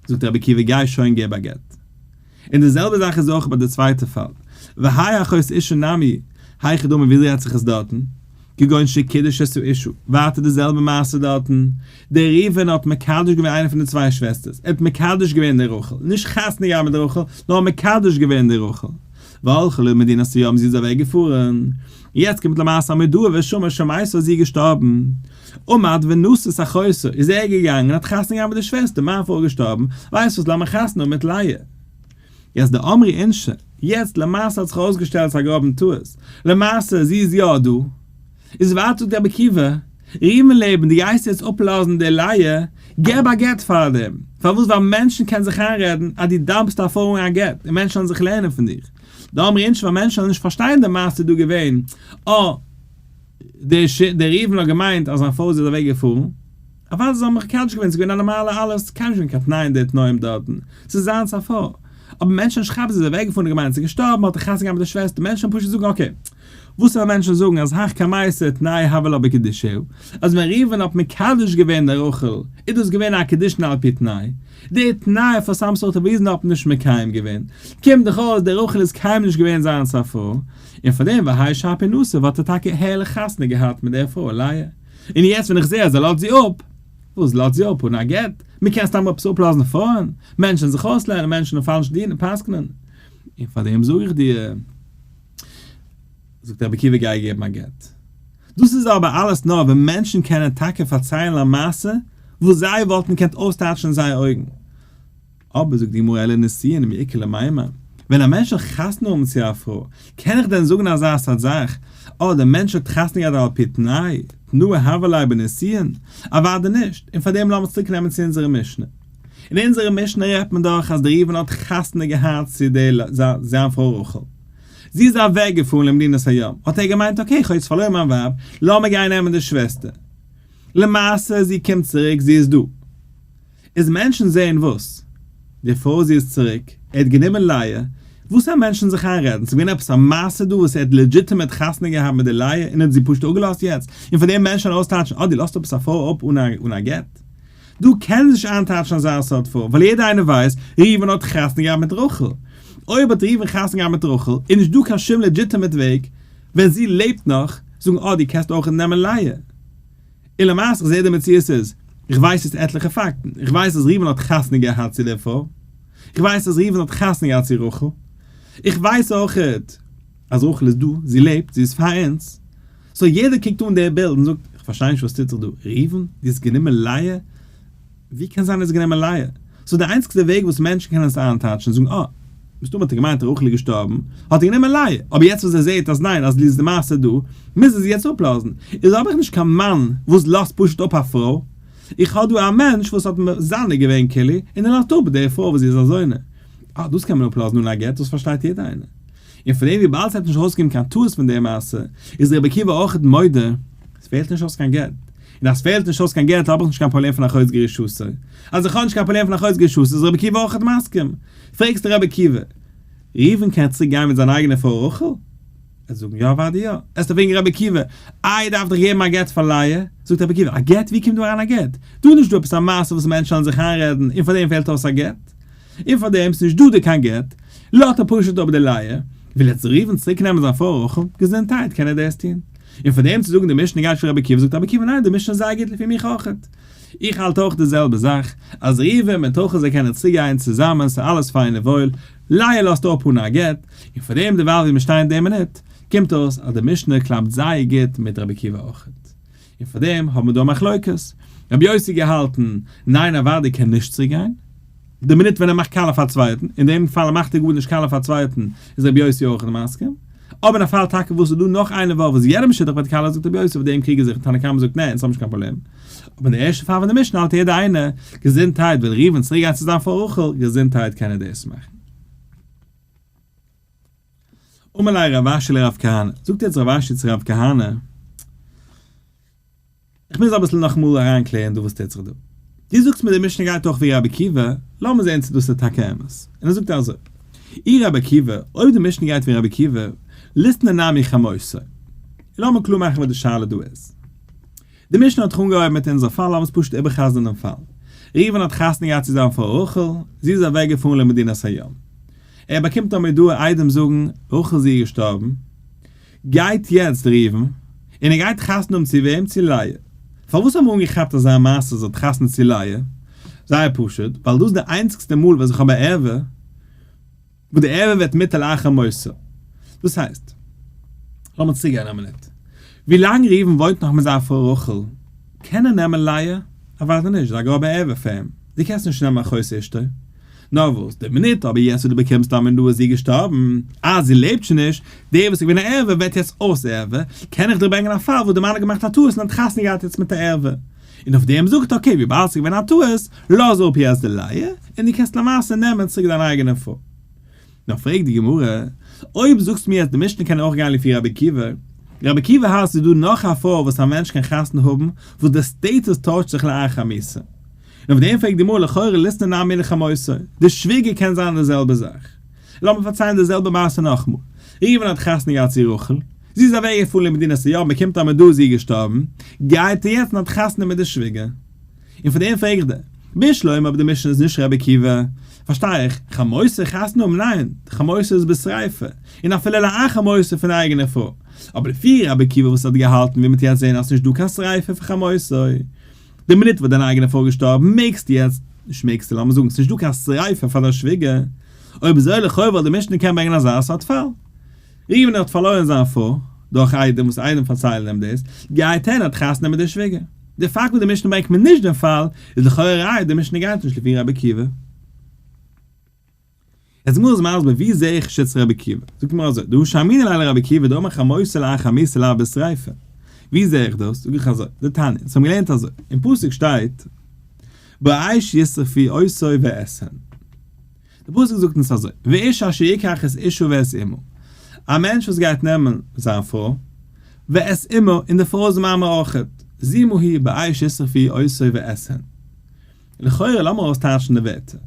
זאגט רבי עקיבא גיי שוין געב א גט. און די זעלבע זאך איז אויך ביי די צווייטע פאל, והאי אחוס אישא נמי, היכי דמי וויאזוי האט זיך עס דארטן, כגון שקידש עשו אישא, ווייטער די זעלבע מעשה דארטן, דער ראובן האט מקדש געווען איינע פון די צוויי שוועסטערס, ער האט מקדש געווען די רחל, נישט חתונה געהאט מיט די רחל, נאר מקדש געווען די רחל, והלכה לו מדינת ציון זי איז אוועק געפארן, יעצט קומט למעשה א מודעה ווער שמע שמעתו אז זי איז געשטארבן, ומד ונשא סחורסו, איז ער געגאנגען האט חתונה געהאט מיט די שוועסטער, מיין פרוי איז געשטארבן, ווייסט וואס לאמיר חתונה האבן מיט לאה. יעצט די אמרי אינשי, יעצט למעשה האט זיך אויסגעשטעלט ס'א גראבן טעות, למעשה זי איז יא דא, איז ווייטער זאגט רבי עקיבא, רימון לעבן די גייסט יעצט אפלאזן די לאה, געב א גט פאר דעם, פארוואס ווייל מענטשן קענען זיך איינרעדן אז דו דארפסט א פרוי און א גט, און מענטשן וועלן זיך לערנען פון דיר, די אמרי אינשי ווייל מענטשן וועלן נישט פארשטיין די מעשה איז דא געווען א. דער ריבן האט געמיינט אז זיין פרוי איז אזווי געפארן, אוודאי זיי האבן מיך מקדש געווען, ס'איז געווען א נארמאלע עלות, קיינער האט נישט געווען קיין תנאים די תנאים דארטן, ס'איז זיינס א פרוי, אבער מענטשן האבן נישט כאפט זי איז אוועק געפארן און געמיינט זי איז געשטארבן האט ער חתונה געהאט מיט די שוועסטער, מענטשן וועלן פשוט זאגן אקעי, וואס וועלן מענטשן זאגן אז הכא מעשה תנאי הבל א בקדישהו, אז ווען ריבן האט מקדש געווען די רחל איז דאס געווען א קדישין על פי תנאי, די תנאי פון סאמסארט ריזן האט מען נישט מקיים געווען, קומט דאך אויס די רחל איז קיינמאל נישט געווען זיינס א פרוי, און פאר דעם והאי שעפי נשא וואלט ער טאקע הערליך חתונה געהאט מיט דער פרוי לאה, און יעצט ווען איך זעה אז ער לאזט זי אפ, וואס לאזט זי אפ אן א גט? מען קען סתם עפעס אפלאזן פרויען? מענטשן זיך אויסלערנען, מענטשן און פאלש דינען, פסק'נען. און פאר דעם זאג איך דיר, זאגט רבי עקיבא גיי געבן א גט. דאס איז אבער אלעס נאר ווען מענטשן קענען טאקע פארציילן א מעשה וואס זיי וואלטן געקענט אויסטייטשן זייער אויגן. אבער זאגט די גמרא אלא ניסיון מעיקר למימר, ווען א מענטש זאל חתונה האבן צו א פרוי, קען איך דען זאגן אזא סארט זאך, אה, דער מענטש האט חתונה געהאט על פי תנאי, תנאי הוה ליה בניסיון? אוודאי נישט, און פארדעם לאמיר צוריק נעמען צו אונזערע משנה. אין אונזערע משנה רעדט מען דאך אז דער ראובן האט חתונה געהאט צו די לאה, זיין פרוי רחל. זי איז אוועק געפארן למדינת הים, האט ער געמיינט אקעי איך האב יעצט פארלוירן מיין ווייב, לאמיר גיין נעמען די שוועסטער. למעשה זי קומט צוריק, זי איז דא. איז מענטשן זעהן וואס? די פאוזי איז צוריק, ער האט גענומען לייע, וואס האבן מענטשן זיך איינרעדן, ס'איז געווען עפעס א מעשה דא וואס ער האט לעדזשיטעמעט חתונה געהאט מיט די לייע און האט זי פשוט אפגעלאזט יעצט, און פאר דעם מענטשן ארויסטייטשן אה דו לאזט אפס א פרוי אפ אן א גט? דו קענסט נישט איינטייטשן אזא סארט פרוי, ווייל יעדער איינער ווייסט ראובן האט חתונה געהאט מיט רחל, אויב האט ראובן חתונה געהאט מיט רחל איז נישט דא קיין שום לעדזשיטעמעט וועג ווען זי לעבט נאך, זאגן אה דו קענסט אויך נעמען לייע. און למעשה איך זעה די מציאות איז, איך ווייס יעצט עטליכע פאקטן, איך ווייס אז ראובן האט חתונה געהאט צו לאה, איך ווייס אז ראובן האט חתונה געהאט צו רחל, איך ווייס אויכעט אז רחל איז דא, זי לעבט, זי איז פאר אונז, סאו יעדער קוקט אן די בילד און זאגט, איך פארשטיי נישט וואס טוט זיך דא, ראובן, דו האסט גענומען לאה? ווי קען זיין ער איז גענומען לייע? סאו די איינציגסטע וועג וואס מענטשן קענען עס איינטייטשן איז זאגן אה, מסתמא האט ער געמיינט רחל איז געשטארבן, האט ער גענומען לייע, אבער יעצט וואס ער זעהט אז ניין אז ליז די מעשה דא, מוז ער זי יעצט אפלאזן, איז האב איך נישט קיין מאן וואס לאזט פשוט אפ א פרוי, איך האב דא א מענטש וואס האט מזנה געווען כלי און ער לאזט אפ די פרוי וואס זי איז א זונה, אה דאס קען מען אפלאזן אן א גט, דאס פארשטייט יעדער איינער. און פון דעם וויבאלד ס'העט נישט ארויסגעקומען קיין טעות פון די מעשה, איז רבי עקיבא אויכעט מודה, ס'פעלט נישט אויס קיין גט. און אז פעלט נישט אויס קיין געלט האב איך נישט קיין פראבלעם פון א חודש גער שסה, אז איך האב נישט קיין פראבלעם פון א חודש גער שסה איז רבי עקיבא אויכעט מסכים, פרעגסט רבי עקיבא, ראובן קען צוריק גיין מיט זיין אייגענע פרוי רחל? ער זאגן יא אוואדי יא, עסט ער פרעגן רבי עקיבא, איי דארף דיך געבן א גט פאר לאה? זאגט רבי עקיבא, א גט? ווי קומט דא אריין א גט? דא איז נישט דא עפעס א מעשה וואס מענטשן וועלן זיך איינרעדן און פאר דעם פעלט אויס א גט? און פאר דעם ס'נישט דא די קיין גט, לאט ער פשוט אפ די לייער, וויל יעצט ראובן צוריק נעמען זיין פרוי רחל, געזונטהייט קען ער דעס טוהן? און פאר דעם צו זאגן די משנה גייט פון רבי עקיבא זאגט רבי עקיבא ניין די משנה איז זייער גוט לפי מיך אויכעט, איך האלט אויך די זעלבע זאך, אז ראובן מיט רחל זיי קענען צוגיין צוזאמען ס'איז אלעס פיין און וואויל, לייער לאזט אפ אן א גט, און פאר דעם דערווייל ווי מיר שטייען די מינוט, קומט אויס אז די משנה קלאפט זייער גוט מיט רבי עקיבא אויכעט. און פאר דעם האבן מיר דא א מחלוקת, רבי יוסי געהאלטן, ניין א וואדי קען נישט צוריק גיין, די מינוט ווען ער מאכט קאלע פאר א צווייטן, אין דעם פאל מאכט ער גארנישט קאלע פאר א צווייטן, איז רבי יוסי אויך נישט מסכים, אבער אין א פאל טאקע וואס איז דא נאך איינער וואו וואס יעדער משיטח וועט קאלע זאגט רבי יוסי אויף דעם קריגן זיך, תנא קמא זאגט נע אונז האבן נישט קיין פראבלעם, אבער אין די ערשטע פאל ווען די משנה האלט יעדער איינער, געזונטהייט, וויל ראובן צוריק גיין צו זיין פרוי רחל, געזונטהייט קען ער דאס מאכן. אמר ליה רב אשי לרב כהנא, זאגט יעצט רב אשי צו רב כהנא, איך מוז אביסל נאכאמאל אריינקלערן דא וואס טוט זיך דא. דו זאגסט מיר די משנה גייט אויך ווי רבי עקיבא, לאמיר זען צו דאס איז טאקע אמת. און ער זאגט אזוי, אי רבי עקיבא, אויב די משנה גייט ווי רבי עקיבא, ליתנא נמי חמוסי. לאמיר קלאר מאכן וואס די שאלה דא איז. די משנה האט זיך אנגעהויבן מיט אונזער פאל, לאמיר עס פשוט איבער'חזר'ן דעם פאל. ראובן האט חתונה געהאט צוזאמען פאר רחל, זי איז אוועקגעפארן למדינת הים. ער באקומט א מודעה איידעם זאגן רחל זי איז געשטארבן, גייט יעצט ראובן און ער גייט חתונה האבן צו וועם? צו לאה. פארוואס האט מען אנגעכאפט אזא מעשה זי האט חתונה צו לאה? זייער פשוט, ווייל דאס איז די איינציגסטע מאל וואס איך האב א ערווה וואס די ערווה ווערט מיתה לאחר מותו. דאס הייסט, לאמיר צוריק גיין א מינוט, ווילאנג ראובן וואוינט נאך מיט זיין פרוי רחל קען ער נעמען לאה? אוודאי נישט, זיי האבן א גראבע ערווה פאר אים, דו קענסט נישט נעמען א חוסה אשתו. נאר וואס, די מינוט אבער יעצט וואס דו באקומסט דיין מינדל איז זי געשטארבן, אה זי לעבט שוין נישט, דער וואס איז געווען א ערבה ווערט יעצט אויס ערבה, קען איך דיר ברענגען א פאל וואס די מאן האט געמאכט א טעות און האט חתונה געהאט יעצט מיט א ערבה, און אויף דעם זאגט אקעי וויבאלד ס'איז געווען א טעות, לאז אפ יעצט די לייע, און דו קענסט למעשה נעמען צוריק דיין אייגענע פרוי. נאר פרעגט די גמרא, אויב זאגסטו מיר אז די משנה קען אויך גיין לפי רבי עקיבא, רבי עקיבא האלט ס'איז דא נאך א פרוי וואס א מענטש קען חתונה האבן וואס די סטעטוס טוישט זיך לאחר מיתה, און אויף דעם פרעגט די גמרא לכאורה ליסטא נאר מילא חמוסו, די שוויגער קען זיין די זעלבע זאך. לאמיר פארציילן די זעלבע מעשה נאכמאל. ראובן האט חתונה געהאט צו רחל, זי איז אוועק געפארן למדינת היו, מען קומט א מדור זי איז געשטארבן, גייט ער יעצט און האט חתונה מיט די שוויגער. און פון דעם פרעגט די. בישלוים אבער די משנה איז נישט רבי עקיבא, פארשטיי איך, חמוסו חתונה האבן ניין, די חמוסו איז בשריפה, און אפילו לאחר מותו פון אייגענע פרוי. אבער לפי רבי עקיבא וואס האט געהאלטן ווי מען טוהט זעהן אז ס'נישט דא קיין שריפה פון חמוסו, די מינוט וואס דיין אייגענער פאטער איז געשטארבן מעגסטו יעצט, נישט מעגסטו, לאמיר זאגן ס'נישט דא קיין שריפה פאר דיין שוויגער, אויב אזוי לכאו' וואלט די משנה קענען ברענגען אזא סארט פאל. ראובן האט פארלוירן זיין פרוי, דורך איידעם וואס איידעם פארציילן אים דאס, גייט ער און האט חתונה מיט די שוויגער. די פאקט וואס די משנה ברענגט מיר נישט דעם פאל, איז לכאו' א ראיה אז די משנה גייט נישט לפי רבי עקיבא. איז גמרא איז מסביר ווי זעה איך שטץ רבי עקיבא, זאגט גמרא אזוי, דהא שאמינא ליה לרבי עקיבא דאמר לך מוסר לאחיך המסר לאו בשריפה, ווי זעה איך דאס, זאג איך אזוי, די תניא, אונז האבן געלערנט אזוי, אין פסוק שטייט באש ישרפי עשוי ועשהן, די פסוק זאגט אונז אזוי, ואיש אשר יקח את אשתו ואת אמו, א מענטש וואס גייט נעמען זיין פרוי, ואת אמו, און די פרוי איז מאמר אויכעט, זימו היא באש ישרפי עשוי ועשהן. לכאורה לאמיר אויסטייטשן די ווערטער.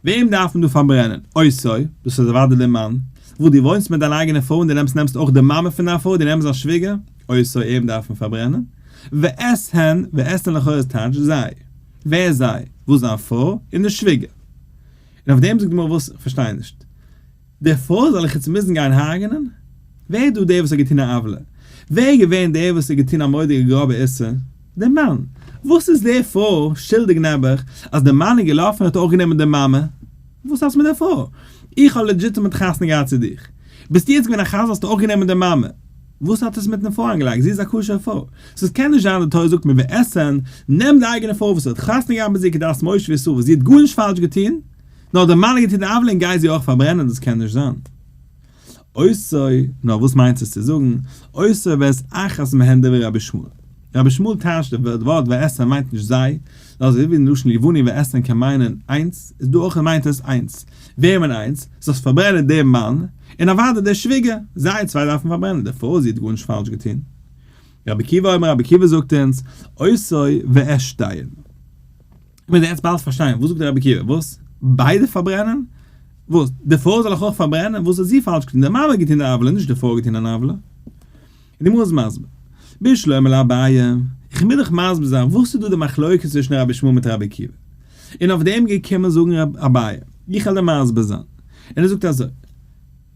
וועם דארף מען דא פארברענען? אויסער, דאס איז אוודאי די מאן. וואס דו וואוינסט מיט דיין אייגענע פרוי און דו נעמסט נעמסט אויך די מאמע פון דיין פרוי, דו נעמסט זיין שוויגער, אויסער אים דארף מען פארברענען. ואת הן, ואת הן לכאורה איז טייטש זיי. ווער זיי? וואס זיין פרוי און די שוויגער. און אויף דעם זאגט די גמרא וואס? כ'פארשטיי נישט. דערפאר זאל איך איצט מוזן גיין הרג'נען? ווער איז דא דער וואס האט געטון א עוולה? ווער איז געווען דער וואס האט געטון א מורא'דיגע גראבע איסור? דער מאן! וואס איז דער פרוי שולדיג נעבעך אז דער מאן איז געלאפן און האט אויך גענומען די מאמע? וואס האסט מיט דער פרוי? איך האב לעדזשיטעמעט חתונה געהאט צו דיך. ביסטו יעצט געווען א חזיר האסטו אויך גענומען די מאמע? וואס האט עס מיטן פרוי אנגעלייגט? זי איז א כשר'ע פרוי. סאו עס קען נישט זיין די תורה זאגט מען וועט עסען, נעם די אייגענע פרוי וואס האט חתונה געהאט מיט זי כדת משה וישראל וואס זי האט גארנישט פאלש געטון, נאר די מנהיגים טוהן די עוולה און גיי זי אויך פארברענען דאס קען נישט זיין אויסער נאר וואס מיינט עס צו זאגן אויסער ואת אחת מהן דברי רבי שמואל רבי שמואל טייטשט די ווארט ועשרן מיינט נישט זיי נאר אזוי ווי אין לשון יווני ועשרן קען מיינען איינס איז דא אויך מיינט עס איינס וועמען איינס? זאלסט פארברענען דעם מאן און אוודאי דער שוויגער זיי צוויי דארף מען פארברענען דערפאר זי האט גארנישט פאלש געטוהן רבי עקיבא אומר רבי עקיבא זאגט אונז אויסער ועשתיהן. מוז ער יעצט באלד פארשטיין, וואס זאגט דער רבי עקיבא? וואס? ביידע פארברענען? וואס? די פרוי זאל אויך אויך פארברענען? וואס האט זי פאלש געטון? די מאמע האט געטון די עוולה, נישט די פרוי האט געטון אן עוולה. די גמרא איז מסביר, בשלומה לאביי, איך מוז דאך מסביר זיין וואס איז דא די מחלוקת צווישן רבי שמואל מיט רבי עקיבא. און אויף דעם געקומען זאגן ר' אביי, איך העל דיר מסביר זיין. און ער זאגט אזוי.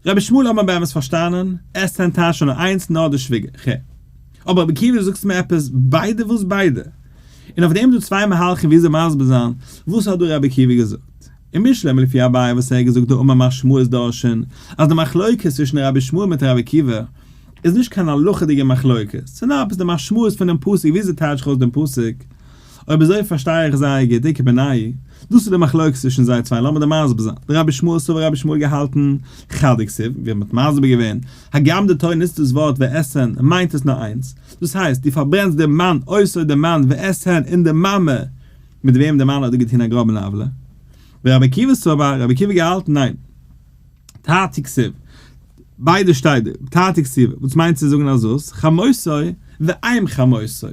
רבי שמואל האט מען באמת פארשטאנען, עס איז ניטאמאל שוין נאר איינס נאר די שוויגער ח. אבער רבי עקיבא דו זאגסט מיר עפעס ביידע וואס ביידע? און אויף דעם איז דא צוויי מהלכים וויאזוי מסביר זיין וואס האט דא רבי עקיבא געזאגט. אין משלי מלפי אביי וואס ער האט געזאגט דא אמר מר שמואל איז דורשין אז די מחלוקת צווישן רבי שמואל מיט רבי עקיבא איז נישט קיין הלכה'דיגע מחלוקת ס'איז נאר עפעס די משמעות פונעם פסוק וויאזוי טייטש איך אויס דעם פסוק אויב אזוי פארשטיי איך זייער גוט, די קעבענאי, דאס איז די מחלוקת צווישן זיי צוויי, לאמיר דיר מסביר זיין, די רבי שמואל סאו האט רבי שמואל געהאלטן חדי כסיל, ווי מען האט מסביר געווען, הגם די תורה נוצט דאס ווארט ועשהן מיינט עס נאר איינס, דאס הייסט דו פארברענסט דעם מאן אויסער דעם מאן ועשהן און די מאמע מיט וועם די מאן האט דא געטון א גראבן עוולה, ורבי עקיבא סבר, רבי עקיבא האט געהאלטן ניין. תעתיק כסיל, ביידע שטייט דא, תעתיק כסיל, וואס מיינט צו זאגן א זאת, חמוסי, ואם חמוסי,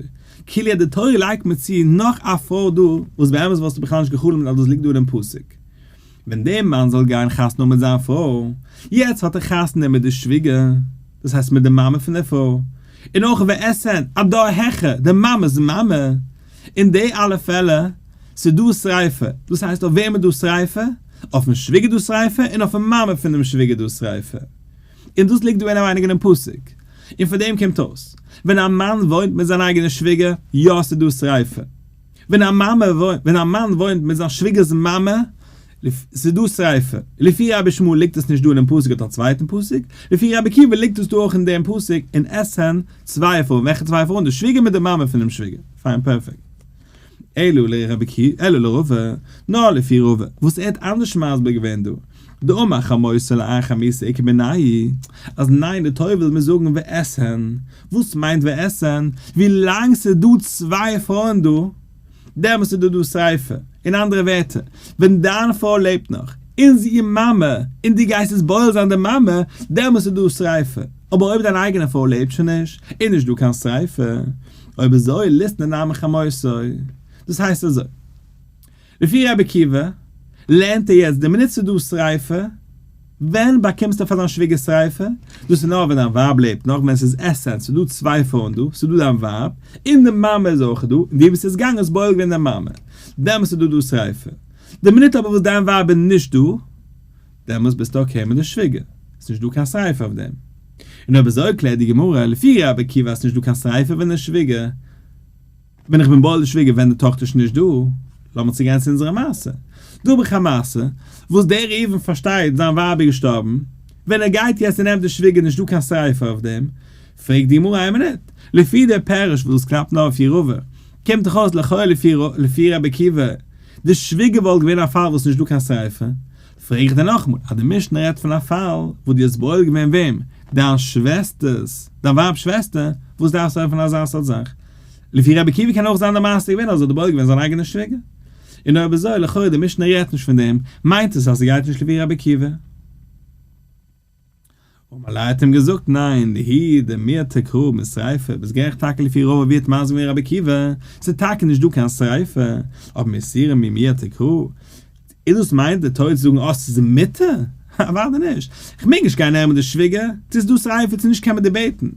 כאילו אז די תורה לייגט מיר צו נאך א פרוי דא, וואס באמת וואלסטו בכלל נישט גע'חלומ'ט אז דאס ליגט דא אינעם פסוק. ווען דער מאן זאל גיין חתונה מיט זיין פרוי, יעצט האט ער חתונה מיט די שוויגער, דאס הייסט מיט די מאמע פון דער פרוי, און אויך וועסען, א דור העכער, די מאמע'ס מאמע, אין די אלע פעלער, ס'דא שריפה, דאס הייסט אויף וועם איז דא שריפה? אויפן שוויגער דא שריפה און אויפן מאמע פון דעם שוויגער דא שריפה. און דאס ליגט דא אינעווייניג אינעם פסוק. און פון דעם קומט אויס, ווען א מאן וואוינט מיט זיין אייגענע שוויגער, יא ס'דא שריפה. ווען א מאמע וואוינט, ווען א מאן וואוינט מיט זיין שוויגער'ס מאמע, ס'איז דא שריפה. לפי רבי שמואל ליגט עס נישט דא אינעם פסוק אט א צווייטן פסוק, לפי רבי עקיבא ליגט עס דא אויך אין דעם פסוק און עס זענען צוויי עפרים, וועלכע צוויי עפרים? די שוויגער מיט די מאמע פונעם שוויגער, פיין פערפעקט. אלא לראובע, נאר לפי ראובע וואס ער האט אנדערש מסביר געווען דא, דאמר חמוסה לאחר מיתה איכא בנאי, אז ניין די תורה וויל מיר זאגן ועשהן, וואס מיינט ועשהן? ווילאנג ס'איז דא צוויי עפרים דא, דעמאלס איז דא דא שריפה, אין אנדערע ווערטער, ווען דיין פרוי לעבט נאך, און זי איז מאמע, און דו גייסט עס בועל זיין די מאמע, דעמאלס איז דא שריפה, אבער אויב דיין אייגענע פרוי לעבט שוין נישט, איז נישט דא קיין שריפה, אויב אזוי ליסט מען דיין מחמתו. דאס הייסט אזוי, לפי רבי עקיבא לערנט ער יעצט די מינוט ס'איז דא שריפה, ווען באקומסטו פאר דיין שוויגער שריפה? דאס איז נאר ווען דיין ווייב לעבט נאך, ווען ס'איז עסען, ס'איז דא צוויי פרויען דא, ס'איז דא דיין ווייב, און די מאמע איז אויך דא, און די וואס איז געגאנגען איז בועל געווען די מאמע, דעמאלס איז דא דא שריפה. די מינוט אבער וואס דיין ווייב איז נישט דא, דעמאלס ביסטו אקעי מיט די שוויגער, ס'איז נישט דא קיין שריפה אויף דעם. און אויב אזוי קלערט די גמרא לפי ר' עקיבא אז ס'איז נישט דא קיין שריפה ווען די שוויגער, ווען איך בין בא אל די שוויגער ווען די טאכטער איז נישט דא, לאמיר צוגיין צו אונזערע מעשה, דא האב איך א מעשה, וואס דער ראובן פארשטייט זיין ווייב איז געשטארבן, ווען ער גייט יעצט און נעמט די שוויגער נישט דא קיין ספר אויף דעם, פרעגט די גמרא איין מינוט, לפי דער פירוש וואס דאס קלאפט נאר אויף יערווע, קומט דאך אויס לכאורה לפי רבי עקיבא, די שוויגער וואלט געווען א פאל וואס נישט דא קיין שריפה, פרעג איך דיר נאכאמאל, אז די משנה רעדט פון א פאל וואס דו האסט בועל געווען וועם? דיין שוועסטערס, דיין ווייב'ס שוועסטער, וואס דארפסטו העלפן אין אזא סארט זאך? לפי רבי עקיבא קען אויך זיין די מעשה געווען אז ער האט בועל געווען זיין אייגענע שוויגער. און אויב אזוי, לכאורה די משנה רעדט נישט פון דעם, מיינט עס אז ס'גייט נישט לפי רבי עקיבא. ומלא האט אים געזאגט, ניין, דהי דמיה תקרא רב משריפה, ביסט גערעכט טאקע לפי רוב אבי האט מסביר געווען רבי עקיבא, ס'איז טאקע נישט דא קיין שריפה, אבער מסירה ממיה תקרא, איז דאס מיינט די טויט צו זאגן אז ס'איז מיתה? אוודאי נישט, כ'מעג נישט גיין נער'ן מיט די שוויגער, צו ס'איז דא שריפה צו נישט קען מען דעבעיטן.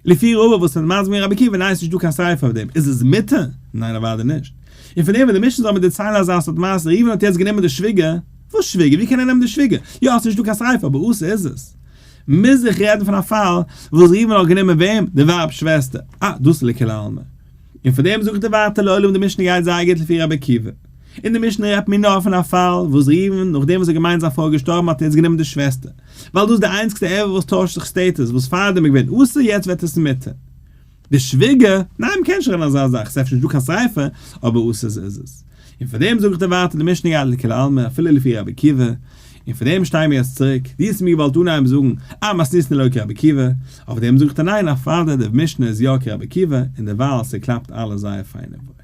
לפי רובא וואס מען מזמין רבי עקיבא ניין ס'נישט דא קיין סייפער אויף דעם, איז עס מיתה? ניין אוודאי נישט. און פון דעם וועט די משנה זאל מיר דערציילן אזא סארט מעשה, ראובן האט יעצט גענומען די שוויגער, וואס שוויגער? ווי קען ער נעמען די שוויגער? יא ס'נישט דא קיין סייפער אבער עושה איז עס. מוז איך רעדן פון א פאל וואס ראובן האט גענומען וועם? די ווייב'ס שוועסטער. אה דאס איז לכולעלמען. און פון דעם זאגט די ווייטע לעולם די משנה גייט זייער גוט לפי רבי עקיבא. אין די משנה רעדט מען נאר פון א פאל וואס ראובן נאכדעם וואס ער האט געמיינט זיין פרוי איז געשטארבן האט ער יעצט גענומען די שוועסטער ווייל דאס איז די איינציגסטע עבר וואס טוישט זיך סטעטוס וואס פארדעם איז געווען אסור יעצט ווערט עס מותר. די שוויגער, ניין מ'קען נישט רעדן אזא זאך, ס'איז אפשר נישטא קיין שריפה, אבער אסור איז עס. און פון דעם זאגט ער ווייטער די משנה גייט לכולי עלמא אפילו לפי רבי עקיבא, און פון דעם שטייען מיר יעצט צוריק, דו האסט מיר געוואלט אנהייבן זאגן אז מען האסט ניסן לויט רבי עקיבא, אויף דעם זאגט ער ניין א פארדעם די משנה איז יא כרבי עקיבא און דערווייל ס'קלאפט אלעס זייער פיין און וואויל.